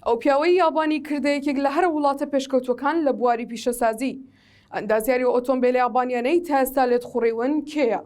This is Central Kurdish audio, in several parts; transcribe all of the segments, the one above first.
ئەو پیاوەی یابانی کردە یەکێک لە هەرە وڵاتە پێشکەوتوەکان لە بواری پیشەسازی. ئەندازیاری ئۆتۆمبێلە یابانیانەی تا ئێستا لێت خوڕیون کێیە؟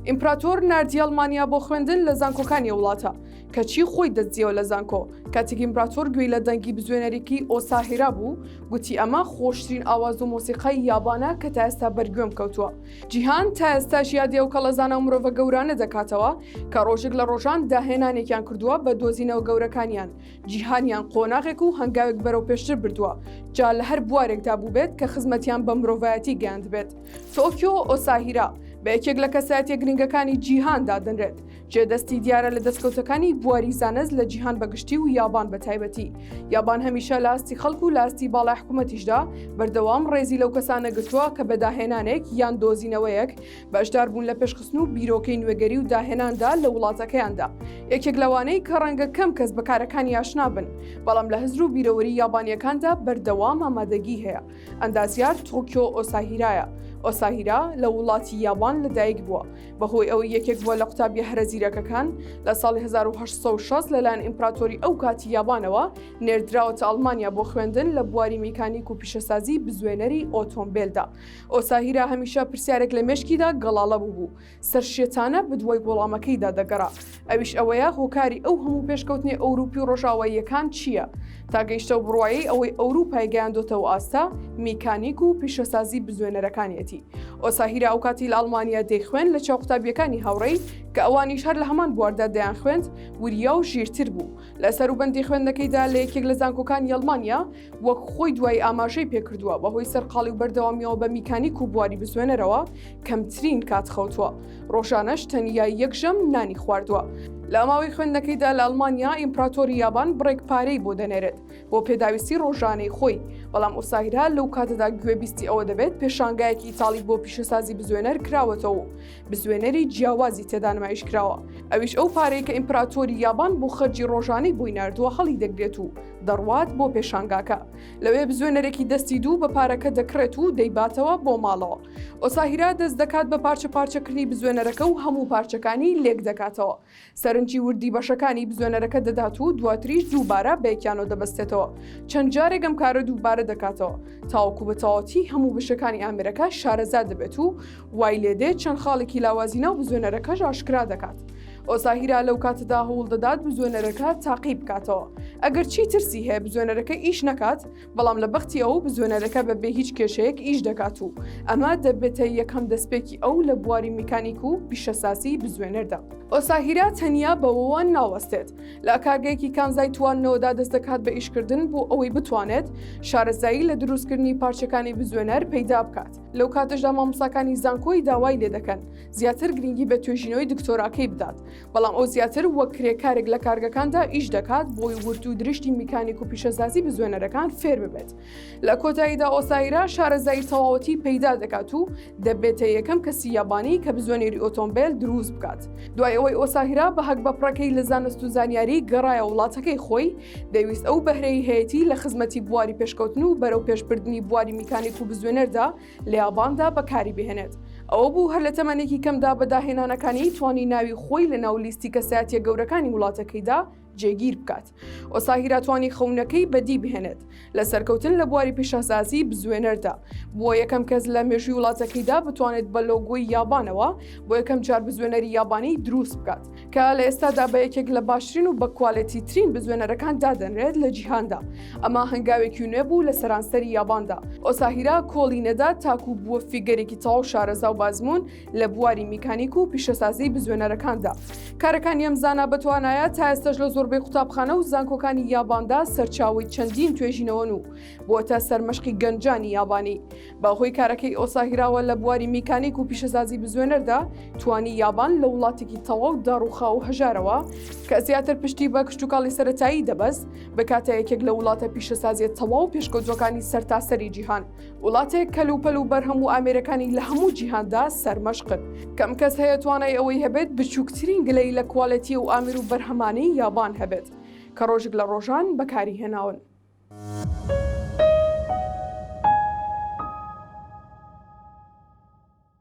ئیمپراتۆر ناردی ئەڵمانیا بۆ خوێندن لە زانکۆکانی وڵاتە کەچی خۆی دەستجیەوە لە زانکۆ کاتێک ئیمپراتۆر گوێی لە دەنگی بزوێنەرێکی ئۆساهێرا بوو گوتی ئەمە خۆشترین ئاواز و مۆسیقای یابانە کە تا ئێستا بەرگوێم کەوتووە جیهان تا ئێستاش یادی ئەو کەڵەزانە و مرۆڤە گەورانە دەکاتەوە کە ڕۆژێک لە ڕۆژان داهێنانێکیان کردووە بە دۆزینەوە گەورەکانیان جیهانیان قۆناغێک و هەنگاوێک بەرەو پێشتر بردووە جا لە هەر بوارێکدا بووبێت کە خزمەتیان بە مرۆڤایەتی گەیاندبێت تۆکیۆ ئۆساهیرا بە یەکێک لە کەسایەتیە گرنگەکانی جیهان دادەنرێت جێ دەستی دیارە لە دەستکەوتەکانی بواری زانست لە جیهان بەگشتی و یابان بە تایبەتی یابان هەمیشە لاستی خەڵک و لاستی باڵای حکوومەتیشدا بەردەوام ڕێزی لەو کەسانە گرتووە کە بەداهێنانێک یان دۆزینەوەیەک بەشدار بوون لە پێشخستن و بیرۆکەی نوێگەری و داهێناندا لە وڵاتەکەیاندا یەکێک لەوانەی کە ڕەنگە کەم کەس بەکارەکانی یاشنابن بەڵام لە هزر و بیرەوەری یابانیەکاندا بەردەوام ئامادەگی هەیە ئەندازیار تۆکیۆ ئۆساهیرایە، ئۆساهیرا لە وڵاتی یابان لەدایک بووە، بەهۆی ئەوەی یەکێک بووە لە قوتابییە هەرە زیرەکەکان، لە ساڵی هەزار و هەشت سەد و شەست لەلایەن ئیمپراتۆری ئەو کاتی یابانەوە نێردراوەتە ئەڵمانیا بۆ خوێندن لە بواری میکانیک و پیشەسازی بزوێنەری ئۆتۆمبێلدا. ئۆساهیرا هەمیشە پرسیارێک لە مێشکیدا گەڵاڵە بووبوو، سەرشێتانە بدوای وەڵامەکەیدا دەگەڕا ئەویش ئەوەیە هۆکاری ئەو هەموو پێشکەوتنی ئەوروپی و ڕۆژاواییەکان چییە تا گەیشتە و بڕواایی ئەوەی ئەوروپای گەیاندۆتەوە ئاستە میکانیک و پیشەسازی بزوێنەرەکانیەتی ئۆساهیرا ئەو کاتی لە ئەڵمانیا دەیخوێن لە چاو قوتابیەکانی هاوڕێی کە ئەوانیش هەر لە هەمان بواردا دەیان خوێند وریا و ژیرتر بوو لە سەروبەندی خوێندنەکەیدا لە یەکێک لە زانکۆکان یڵمانیا وەک خۆی دوای ئاماژەی پێکردووە بەهۆی سەرقاڵی و بەردەوامیەوە بە میکانیک و بواری بزوێنەرەوە کەمترین کات خەوتووە ڕۆژانەش تەنیا یەکژەم نانی خواردووە لە ماوەی خوێندنەکەیدا لە ئەلمانیا ئیمپراتۆری یابان بڕێک پارەی بۆ دەنێرێت بۆ پێداویستی ڕۆژانەی خۆی بەڵام ئۆساهرا لەو کاتەدا گوێبیستی ئەوە دەبێت پێشانگایەکی ئیتاڵی بۆ پیشەسازی بزوێنەر کراوەتەوە و بزوێنەری جیاوازی تێدا نمایش کراوە ئەویش ئەو پارەی کە ئیمپراتۆری یابان بۆ خەرجی ڕۆژانەی بۆی نردووە هەڵی دەگرێت و دەڕوات بۆ پێشانگاکە لەوێ بزوێنەرێکی دەستی دوو بە پارەکە دەکڕێت و دەیباتەوە بۆ ماڵەوە ئۆساهیرا دەست دەکات بە پارچە پارچەکردنی بزوێنەرەکە و هەموو پارچەکانی لێک دەکاتەوە سەرنجی وردی بەشەکانی بزوێنەرەکە دەدات و دواتریش دووبارە بەیەکیانەوە دەبستێتەوە چەند جارێک ئەم کارە دووبارە دەکاتەوە تاوەکو بەتەواوەتی هەموو بشەکانی ئامرەکە شارەزا دەبێت و وای لێدێت چەند خاڵێکی لاوازی ناو بزوێنەرەکەش ئاشکرا دەکات. ئۆساهیرا لەو کاتەدا هەوڵ دەدات بزوێنەرەکە تاقی بکاتەوە. ئەگەر چی ترسی هەیە بزوێنەرەکە ئیش نەکات، بەڵام لە بەختی ئەو بزوێنەرەکە بە بێ هیچ کێشەیەک ئیش دەکات و ئەمە دەبێتە یەکەم دەستپێکی ئەو لە بواری میکانیک و پیشەسازی بزوێنەردا. ئۆساهیرا تەنیا بەوەوە ناوەستێت، لە کارگەیەکی کانزای تواندنەوەدا دەست دەکات بە ئیشکردن بۆ ئەوەی بتوانێت شارەزایی لە دروستکردنی پارچەکانی بزوێنەر پەیدا بکات. لەو کاتەشدا مامۆساکانی زانکۆی داوای لێ دەکەن زیاتر گرنگی بە توێژینەوەی دکتۆراکەی بدات بەڵام ئەو زیاتر وەک کرێکارێک لە کارگەکاندا ئیش دەکات بۆی ورد و درشتی میکانیک و پیشەزازی بزوێنەرەکان فێر ببێت لە کۆتاییدا ئۆسایرا شارەزایی تەواوەتی پەیدا دەکات و دەبێتە یەکەم کەسی یابانی کە بزوێنێری ئۆتۆمبیل دروست بکات دوای ئەوەی ئۆساهرا بە هەک بە پڕەکەی لە زانست و زانیاری گەڕایە وڵاتەکەی خۆی دەیویست ئەو بەهرەی هەیەتی لە خزمەتی بواری پێشکەوتن و بەرەو پێشبردننی بواری میکانیک و بزوێنەردا لە یاباندا بەکاری بهێنێت ئەوە بوو هەر لە تەمەنێکی کەمدا بەداهێنانەکانی توانی ناوی خۆی لە ناو لیستی کەسایەتە گەورەکانی وڵاتەکەیدا جێگیر بکات ئۆساهیراتوانی خەونەکەی بەدی بهێنێت لە سەرکەوتن لە بواری پیشەسازی بزوێنەردا، بووە یەکەم کەس لە مێژووی وڵاتەکەیدا بتوانێت بە لۆگۆی یابانەوە بۆ یەکەم جار بزوێنەری یابانی دروست بکات، کە لە ئێستادا بە یەکێک لە باشترین و بەکوالێتیترین بزوێنەرەکان دادەنرێت لە جیهاندا. ئەمە هەنگاوێکی نوێ بوو لە سەرانسەری یاباندا. ئۆساهیرا کۆڵی نەدا تاکوو بووە فیگەرێکی تەواو شارەزا و بازموون، لە بواری میکانیک و پیشەسازی بزوێنەرەکاندا کارەکانی ئەم زانە بەتوانایە تا ئێستش لە زۆربەی قوتابخانە و زانکۆکانی یاباندا سەرچاوی چەندین توێژینەوەن و بۆتە سەرمەشقی گەنجانی یابانی بەهۆی کارەکەی ئۆساهیراوە لە بواری میکانیک و پیشەسازی بزوێنەردا توانی یابان لە وڵاتێکی تەواو داڕوخا و هەژارەوە کە زیاتر پشتی بە کشتتوکڵی سەتایی دەبەست بکاتە یەکێک لە وڵاتە پیشەسازیە تەواو پێشکەوتوەکانی سەرتاسەری جیهان. وڵاتێک کەل و پەل و بەرهەم و ئامێرەکانی لە هەموو جیهاندا سەرمەشقن کەم کەس هەیە توانای ئەوەی هەبێت بچووکترین گلەی لە کوالەتی و ئامیر و بەرهەمانی یابان هەبێت کە ڕۆژێک لە ڕۆژان بەکاری هێناون.